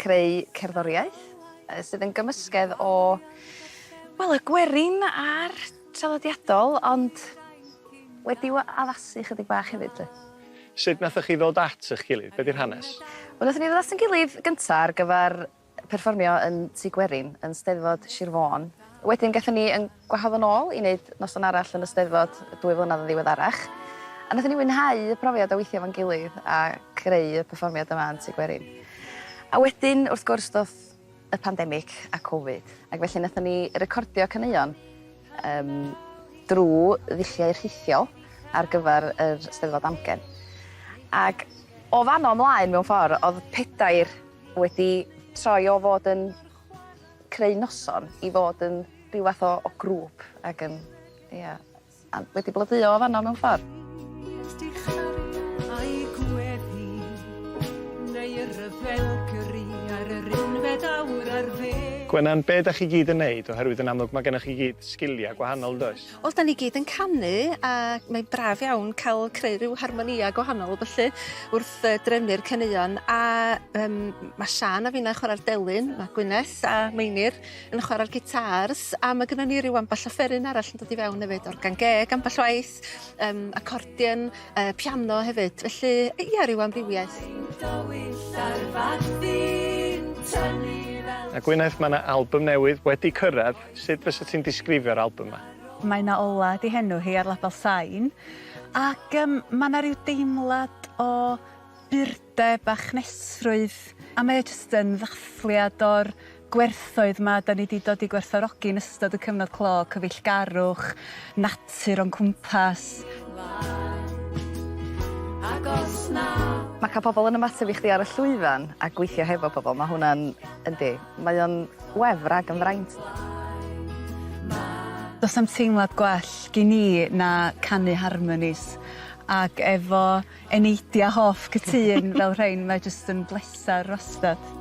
Creu cerddoriaeth sydd yn gymysgedd o, wel, y gwerin a'r traddodiadol, ond wedi'w addasu chydig bach hefyd 'lly. Sut nathoch chi ddod at ych gilydd? Be 'di'r hanes? Wel, nathon ni ddod at 'yn gilydd gynta' ar gyfar perfformio yn Tŷ Gwerin yn Steddfod Sir Fôn. Wedyn gathon ni 'yn Gwahodd yn ôl i wneud noson arall yn y Steddfod dwy flynedd yn ddiweddarach, a wnaethon ni fwynhau y profiad o weithio efo'n gilydd a creu y perfformiad yma yn Tŷ Gwerin. A wedyn, wrth gwrs, ddoth y pandemig a Covid, ac felly wnaethon ni recordio caneuon yym drwy ddulliau rhithiol ar gyfer yr Steddfod Amgen. Ac o fan'no ymlaen, mewn ffordd, oedd pedair wedi troi o fod yn creu noson i fod yn ryw fath o o grŵp ag yn ia a wedi blodeuo o fanno mewn ffor. Gwenan, be' 'dach chi gyd yn neud oherwydd yn amlwg ma' gennoch chi gyd sgilia gwahanol yndoes? Wel 'dan ni gyd yn canu a mae'n braf iawn cael creu rhyw harmonïa gwahanol felly wrth yy drefnu'r caneuon a yym ma' Siân a finna chwara'r delyn ma' Gwyneth a Meinir yn chwara'r gitars a ma' gynnon ni ryw amball offeryn arall yn dod i fewn efyd organ geg ambell waith yym acordion yy piano hefyd felly ia ryw amrywiaeth. A Gwyneth ma' 'na albym newydd wedi cyrradd. Sut fysa ti'n disgrifio'r albym 'ma? Mae 'na Ola 'di henw hi ar label Sain ac yym ma' 'na ryw deimlad o burdeb a chnesrwydd a mae o jyst yn ddathliad o'r gwerthoedd 'ma 'dan ni 'di dod i gwerthfawrogi yn ystod y cyfnod clo, cyfeillgarwch, natur o'n cwmpas. Ma' ca'l pobol yn ymateb i chdi ar y llwyfan a gweithio hefo pobol ma' hwnna'n, yndi, Mae o'n wefr ag yn fraint. Does na'm teimlad gwell gin i na canu harmonis ac efo eneidia hoff cytun fel rhein mae jyst yn bleser wastad.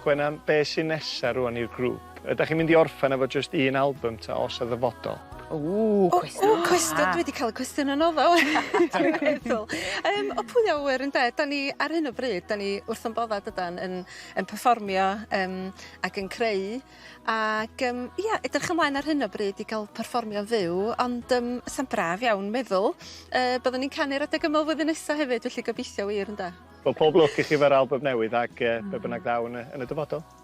Gwenan, be' sy nesa rwan i'r grŵp? Ydach chi'n mynd i orffen efo jyst un album ta os yn ddyfodol? Ww, cwestiwn da! Cwestiwn, dwi 'di ca'l y cwestiwn yna ddo dwi'n meddwl. Yym o pwy a ŵyr ynde? 'Dan ni ar hyn o bryd 'dan ni wrth 'yn bodda' dydan yn yn perfformio yym ac yn creu ac yym ia edrych ymlaen ar hyn o bryd i ga'l perfformio'n fyw ond yym sa'n braf iawn meddwl yy byddwn ni'n canu'r adeg yma flwyddyn nesa hefyd felly gobeithio wir ynde? Wel pob lwc i chi efo'r album newydd ac yy be' bynnag ddaw yn y yn y dyfodol.